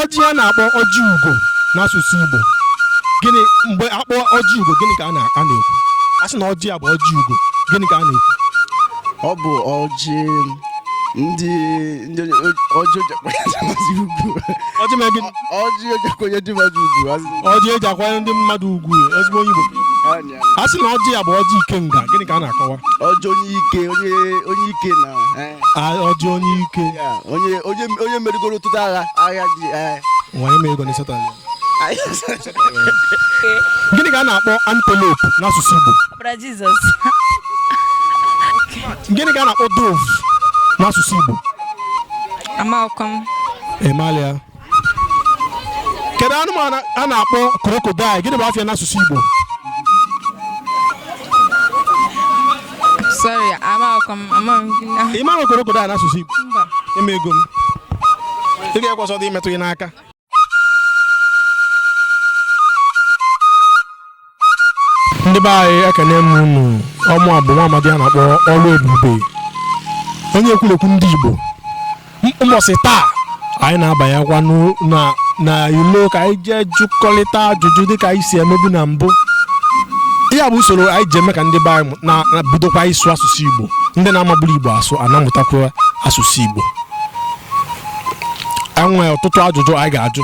ọjị a na-akpọ ọjị ugo n'asụsụ Igbo gịnị mgbe a kpọ ọjị ugo gịnị ka a na-ekwu a sị na ọjị a bụ ọjị ugo gịnị ka a na-ekwu ọ bụ ọjị ndị ọjị e ji akwanye ndị mmadụ ugwu ezigbo onye Igbo a sị na ọjị a bụ ọjị ikenga gịnị ka a na-akọwa ọjị onye ike onye onye ike na eh. ah, ọjị onye ike onye onye onye merigoro ọtụtụ agha agha dị eh. nwanyị mere ego n'ịzata ya gịnị ka a na-akpọ antelope n'asụsụ Igbo gịnị ka a na-akpọ dove n'asụsụ Igbo amaghịkwa m ịmalịa kedu anụmanụ a na-akpọ crocodile gịnị bụ afa ya n'asụsụ Igbo sorry amaghịkwa m amaghị m gịnị ahụ. ị maghị crocodile n'asụsụ Igbo Mba. nye m ego m ị ga-ekwe ọsọ dị imetụ gị n'aka ndị be anyị ekene m unu ọ mụwa bụ nwa amadi a na-akpọ Oluebube onye ekwurekwu ndị igbo ụbọchị taa anyị na-abanyekwa n'u- na na ilo ka anyị jee jụkọrịta ajụjụ dịka anyị si emebu na mbụ ya bụ usoro anyị ji eme ka ndị be anyị mụ- na- na bidokwa ịsụ asụsụ igbo ndị na-amaburọ igbo asụ ana-amụtakwa asụsụ igbo e nwere ọtụtụ ajụjụ anyị ga-ajụ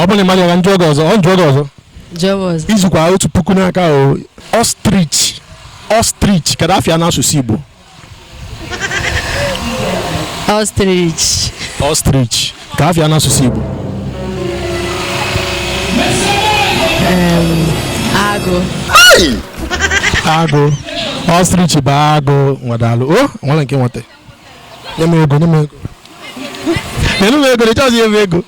ọ bụrụ na ịmarọ ya ka m jụọ gị ọzọ ọ m jụọ gị ọzọ jụọ m ọzọ izukwa otu puku n'aka o ostrich ostrich kedu afa ya n'asụsụ igbo ostrich ostrich ka afa ya n'asụsụ Igbo agụ agụ ostrich bụ agụ nwa daalụ o nwere nke nweta nye m ego nye m ego nyere m ego ịchọzi nye m ego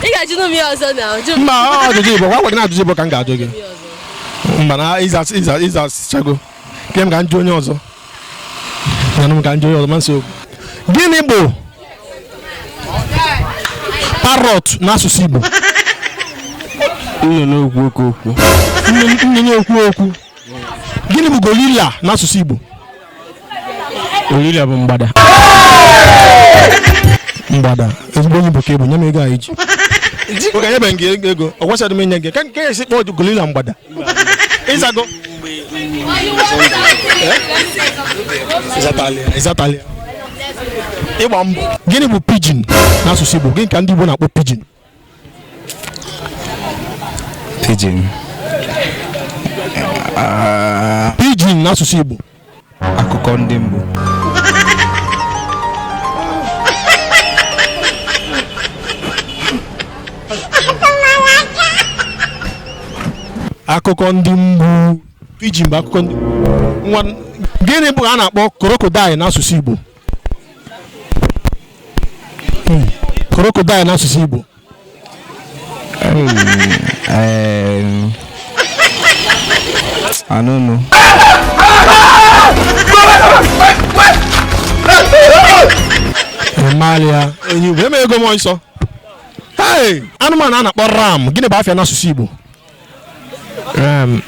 ị ga-ajụ m ihe ọzọ na ọjụ mba ọ ajụjụ igbo gwa gwa gị na ajụjụ igbo ka m ga-ajụ gị mba na ịza ịza ịzachago ka m ga jụọ onye ọzọ gịnị bụ parrot n'asụsụ Igbo nnụnụ okwu okwu okwu nnụnụ ekwu okwu gịnị bụ gorilla n'asụsụ Igbo gorilla bụ mgbada mgbada ezigbo onye Igbo ka ịbụ nye m ego anyị ji oge nyebe gị ego ọ gwachara m inye gị ka nke esi kpọọ gorilla mgbada ịzago ịzatalị ya ịgba mbọ gịnị bụ pigeon n'asụsụ Igbo gịnị ka ndị Igbo na-akpọ pigeon pigeon ah. pigeon n'asụsụ Igbo akụkọ ndị mbụ akụkọ ndị mgbu pigeon bụ akụkọ ndị nwa gịnị bụ a na-akpọ crocodile n'asụsụ Igbo crocodile n'asụsụ Igbo Um, I don't know. Ị malụ ya, enyi bụ nye m ego m ọsọ. Hey, anụmanụ a na-akpọ ram, gịnị bụ afa ya n'asụsụ Igbo? Um,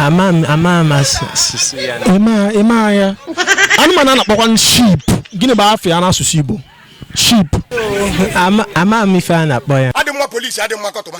ama m ama m asụ- asụsụ ya na- ịma ịma ya anụmanụ a na-akpọkwa sheep gịnị bụ afa ya n'asụsụ igbo sheep ama ama m ife a na-akpọ ya adị mma polisi adị mma kọtụma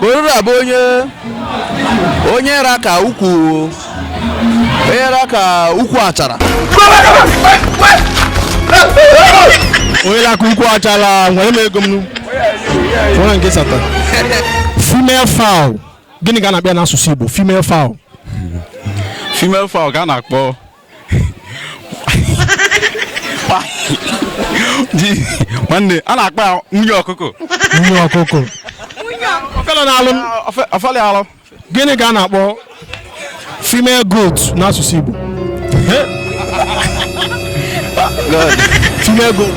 Gorilla bụ onye onye ra ka ukwu onye ra ka ukwu achara onye ra ka ukwu achara nwere m ego m nwere nke sata female fowl gịnị ka a na-akpọ ya n'asụsụ Igbo female fowl female fowl ka a na-akpọ Ji- nwanne a na-akpọ ya nwunye ọkụkọ nwunye ọkụkọ ọfela na-alụ m Ofe- ofeli alụ gịnị ka a na-akpọ female goat n'asụsụ Igbo female goat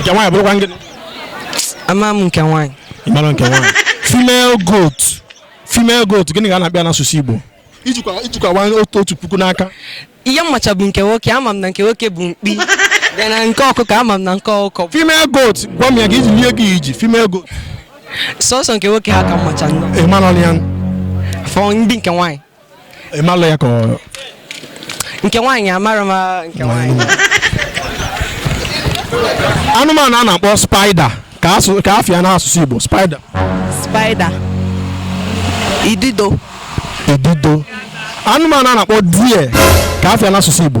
nke nwaanyị bụrụkwa gịnị ama m nke nwaanyị ị mara nke nwaanyị female goat female goat gịnị ka a na-akpọ ya n'asụsụ igbo ijikwa ijikwa nwaanyị otu otu puku n'aka ihe m macha bụ nke nwoke ama m na nke nwoke bụ mkpi bịa na nke ọkụkọ ama m na nke ọkụkọ bụ female goat gwa m ya ka iji lie gị iji female goat sọsọ nke nwoke ha ka m macha nnọọ ị mara ọnụ ya fọ ndị nke nwaanyị ị malụ ya ka ọ nke nwaanyị amara m ah, nke nwaanyị anụmanụ a na-akpọ spider ka asụ- ka afa ya n'asụsụ igbo spider spider idido idido anụmanụ a na-akpọ deer ka afa ya n'asụsụ igbo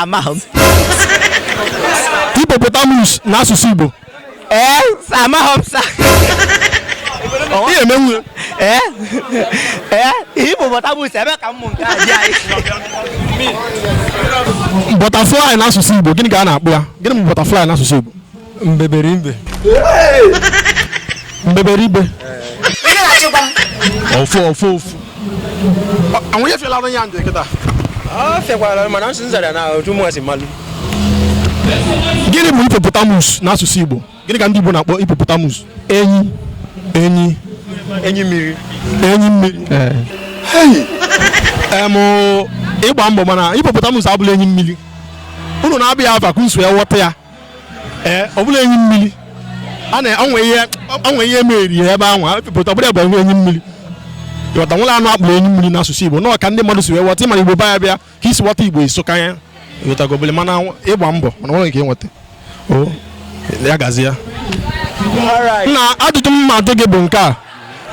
amahọ m hippopotamus na asụsụ igbo ee amahọ m sir ihe emenwu ee ee hippopotamus ebe ka mmụ nke a dị anyị butterfly na asụsụ igbo gịnị ka a na-akpọ ya gịnị bụ butterfly na asụsụ igbo mbeberibe mbeberibe ofu ofu ofu anwụnye fela ọrụ ya ndụ kịta ọ fekwara mana nsị nzara na otu mụ si malụ gịnị bụ hippopotamus n'asụsụ igbo gịnị ka ndị igbo na-akpọ hippopotamus enyi enyi enyi mmiri enyi mmiri em ị gba mbọ mana hippopotamus abụlọ enyi mmiri unu na-aba ya afa ka unu si aghọta ya ee ọ bụlọ enyi mmiri a na-enwe ihe enwe ihe meri ya ebe ahụ pụta ọ bụla bụ enwe enyi mmiri ị ghọta nwere anụ a kpọrọ enyi mmiri n'asụsụ igbo nọọ ka ndị mmadụ si wee ghọta ị mara igbo baya bịa ka i si ghọta igbo isoka ya ị ghọtago obele mana ị gba mbọ mana enwelọ nke i nweta o ya gazi ya nna ajụjụ m ma ajụ gị bụ nke a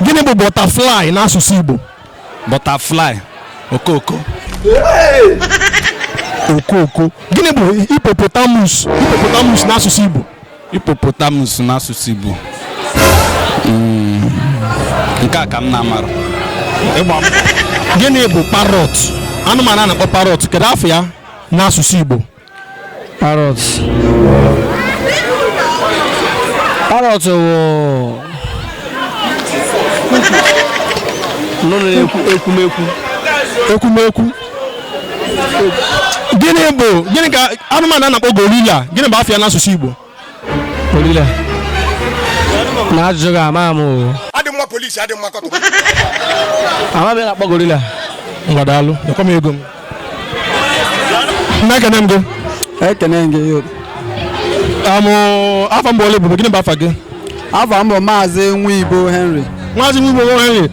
gịnị bụ butterfly n'asụsụ igbo butterfly okooko okooko gịnị bụ hippopotamus hippopotamus n'asụsụ igbo hippopotamus n'asụsụ igbo hmm. nke a ka m na-amarọ gịnị bụ parrot anụmanụ a na-akpọ parrot kedu afa ya n'asụsụ igbo parrot parrot wụ anụ na-ekwu ekwumekwu ekwumekwu gịnị bụ gịnị ka anụmanụ a na-akpọ gorilla gịnị bụ afa ya n'asụsụ Igbo Gorilla. Nna ajụjụ gị ama m o. adị mma polisi adị mma kọtụ Ama m ihe a na-akpọ gorilla. Ngwa daalụ. Nyekwa m ego m. Nna ekene m gị. ekene gị yo Amụ afọ mgbe ole bụ gịnị bụ afa gị? afa m bụ maazị nwa igbo henry Maazị Nwa Igbo Henry.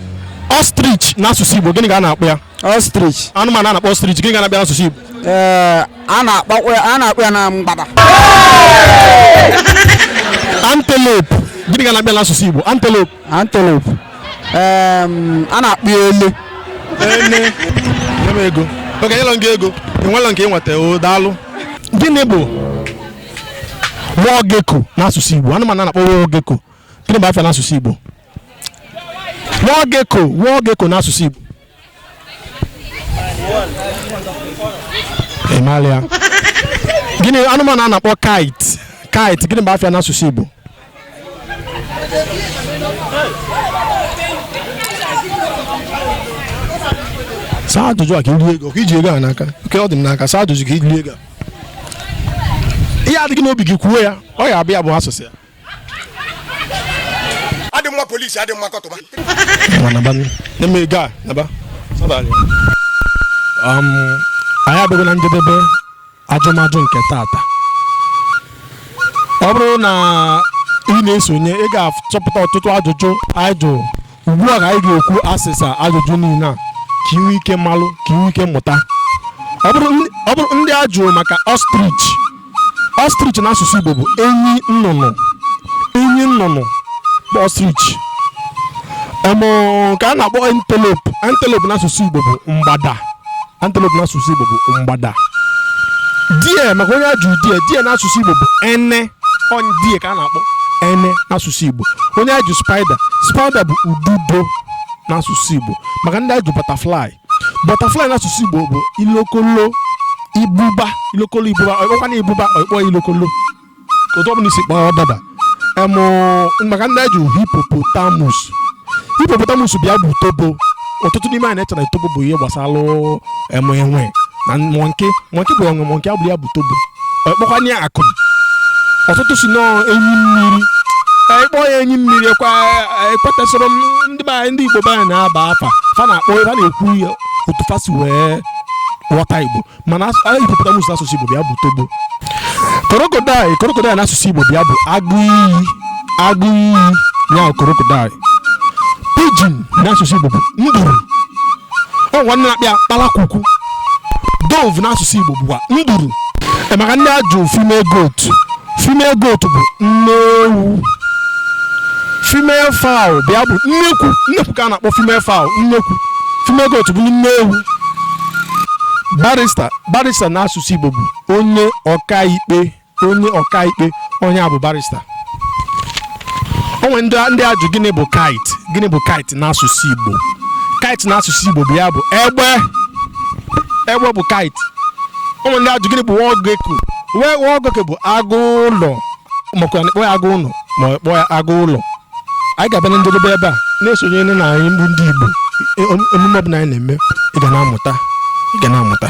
Ostrich n'asụsụ Igbo gịnị ka a na-akpọ ya? ostrich anụmanụ a na-akpọ ostrich gịnị ka a na-akpọ ya n'asụsụ Igbo ee a na-akpọkwa ya- a na-akpọ ya na mgbada antelope gịnị ka a na-akpọ ya n'asụsụ Igbo antelope antelope ee a na-akpọ ya ele ene nye m ego oge nyelọ gị ego enwelọ nke i nweta o daalụ gịnị bụ wall gecko n'asụsụ Igbo anụmanụ a na-akpọ wall gecko gịnị bụ afa ya n'asụsụ Igbo Wall gecko, wall gecko n'asụsụ Igbo. Ị maara ya? Gịnị anụmanụ a na-akpọ kite? Kite gịnị bụ afa ya n'asụsụ Igbo? Saa ajụjụ a ka i rie ego, ka i ji ego a n'aka. Oke ọ dị m n'aka, saa ajụjụ ka i rie ego a. Ihe a dị gị n'obi gị kwuo ya, ọ ya abịa bụ asụsụ ya. adị mma polisi adị mma kọtụma um, anyị abịago na njedebe ajụmajụ nke tata ọ bụrụ na ị na-esonye ị ga-achọpụta ọtụtụ ajụjụ anyị jụrụ ugbu a ka anyị ga-ekwu asịsa ajụjụ niile a ka i nwee ike malụ ka i nwee ike mụta ọ bụrụ ndị- ọ bụrụ ndị a jụrụ maka ostrich ostrich na asụsụ igbo bụ enyi nnụnụ enyi nnụnụ bụ ostrich ọmụ ka a na-akpọ antelope antelope na asụsụ igbo bụ mgbada antelope n'asụsụ igbo bụ mgbada deer maka onye a jụrụ deer deer n'asụsụ igbo bụ ene ọ deer ka a na-akpọ ene n'asụsụ igbo onye a jụ spider spider bụ ududo n'asụsụ igbo maka ndị a jụ butterfly butterfly n'asụsụ igbo bụ ilokolo ibuba ilokolo ibuba ọ kpọkwa ya ibuba ọ kpọọ ilokolo otu ọbụla i si kpọọ ọ daba em maka ndị a jụ hippopotamus hippopotamus bịa bụ tobo ọtụtụ n'ime anyị na-eche na tobo bụ ihe gbasara em enwe na monkey monkey bụ enwe monkey abụrọ ya bụ tobo ọ kpọkwa ya akụm ọtụtụ sị na ọ enyi mmiri ị kpọọ ya enyi mmiri ekwetesịrọ m ndị be anyị ndị igbo be anyị na-aba afa fa na-akpọ fa na-ekwu ya otu fa si wee ghọta igbo mana as- a hippopotamus n'asụsụ igbo bịa bụ tobo crocodile crocodile n'asụsụ igbo bịa bụ agụ iyi agụ iyi ya bụ crocodile pigeon n'asụsụ igbo bụ nduru o nwekwa ndị na-akpọ ya kpalakwukwu dove n'asụsụ igbo bụkwa nduru Ee, maka ndị a jụ female goat female goat bụ nne ewu female fowl bịa bụ nnekwu nnekwu ka a na-akpọ female fowl nnekwu female goat bụ nne ewu barrister barrister na asụsụ Igbo bụ onye ọkaikpe onye ọkaikpe onye a bụ barrister o nwee ndị ndị a jụ gịnị bụ kite gịnị bụ kite n'asụsụ igbo kite n'asụsụ igbo bịa bụ egbe egbe bụ kite o nwee ndị a jụ gịnị bụ wall gecko wall gecko bụ agụ ụlọ makwa na e kpọ ya agụ ụnọ ma ọ kpọ ya agụ ụlọ anyị ga-abịa na njedebe ebe a na-esonye na anyị bụ ndị igbo e- emume ọbụla anyị na-eme ị ga na-amụta ị ga na-amụta